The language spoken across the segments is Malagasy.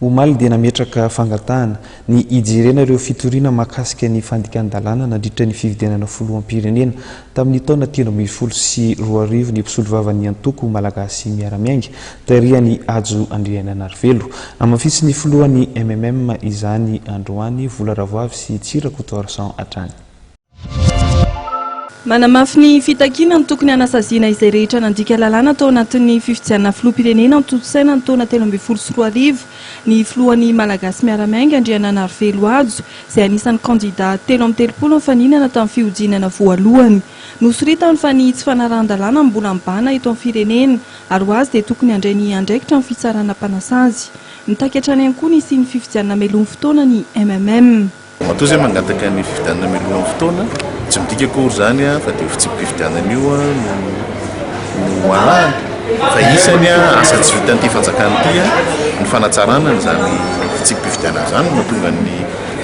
Omaly dia nametraka fangatahana ny hijerena ireo fitoriana mahakasika ny fandikan-dalàna nandritra ny fifidianana filoham-pirenena tamin'ny taona telo ambin'ny folo sy roa arivo ny mpisolovavan'ny antoko Malagasy miara-miainga tarihan'i Hajo Andrianainarivelo. Namafisin'ny filohan'ny MMM izany androany Vola Ravoavy sy Tsy Rakotoarison hatrany. Manamafy ny fitakiana ny tokony hanasaziana izay rehetra nandika lalàna tao anatin'ny fifidianana filoham-pirenena notontosaina ny taona telo ambin'ny folo sy roa arivo ny filohan'ny Malagasy miara-miainga, Andriananarivelo Hajo, izay anisan'ny kandidà telo amby telopolo nifaninana tamin'ny fihodinana voalohany. Nosoritany fa ny tsy fanarahan-dalàna no mbola mibahana eto amin'ny firenena ary ho azy dia tokony handray ny andraikitra ny fitsarana mpanasazy. Mitaky hatrany ihany koa ny hisian'ny fifidianana melohin'ny fotoana ny MMM. Matoa izay mangataka ny fifidianana mialohan'ny fotoana, tsy midika akory izany fa dia io fitsipi-pifidianana io no no alahany fa isany asa tsy vitan'ity fanjakana ity ny fanatsarana an'izany fitsipi-pifidianana izany no mahatonga ny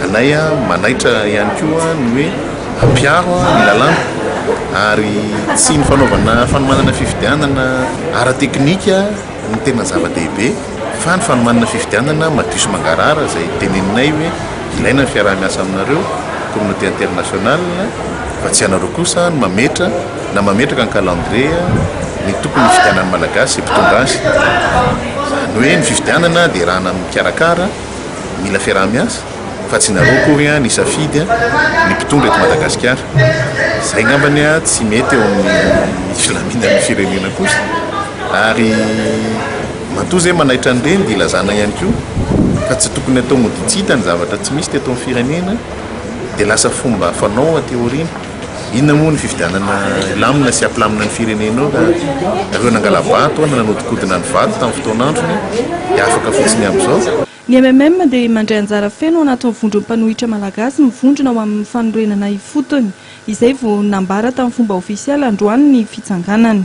anay manaitra ihany koa ny hoe hampiaro ny lalàna ary tsy ny fanaovana fanomanana fifidianana ara-teknika Ny tena zava-dehibe fa ny fanomanana fifidianana madio sy mangarahara izay teneninay hoe ilaina ny fiaraha-miasa aminareo, communauté internationale, fa tsy ianareo kosa no mametra na mametraka ny calendrier ny tokony hifidianan'ny Malagasy izay mpitondra azy. Izany hoe ny fifidianana dia raha na mikarakara, mila fiaraha-miasa. fa tsy nareo akory an nisafidy ny mpitondra eto Madagasikara. Zay ngamba ny tsy mety eo amin'ny filaminan'ny firenena kosa. Ary matoa zay manaitra an'ireny dia ilazana ihany koa fa tsy tokony atao mody tsy hita ny zavatra tsy misy teto amin'ny firenena dia lasa fomba fanao aty aoriana. Inona moa ny fifidianana hilamina sy hampilamina ny firenena eo raha ireo nangala-bato na nanodikodina ny vato tamin'ny fotoan'androny dia afaka fotsiny amin'izao? Ny mmm dia mandray anjara feno ao anatin'o Vondron'ny Mpanohitra Malagasy mivondrona ho amin'ny fanorenana ifotony, izay vao nambara tamin'ny fomba ofisialy androany ny fitsanganany.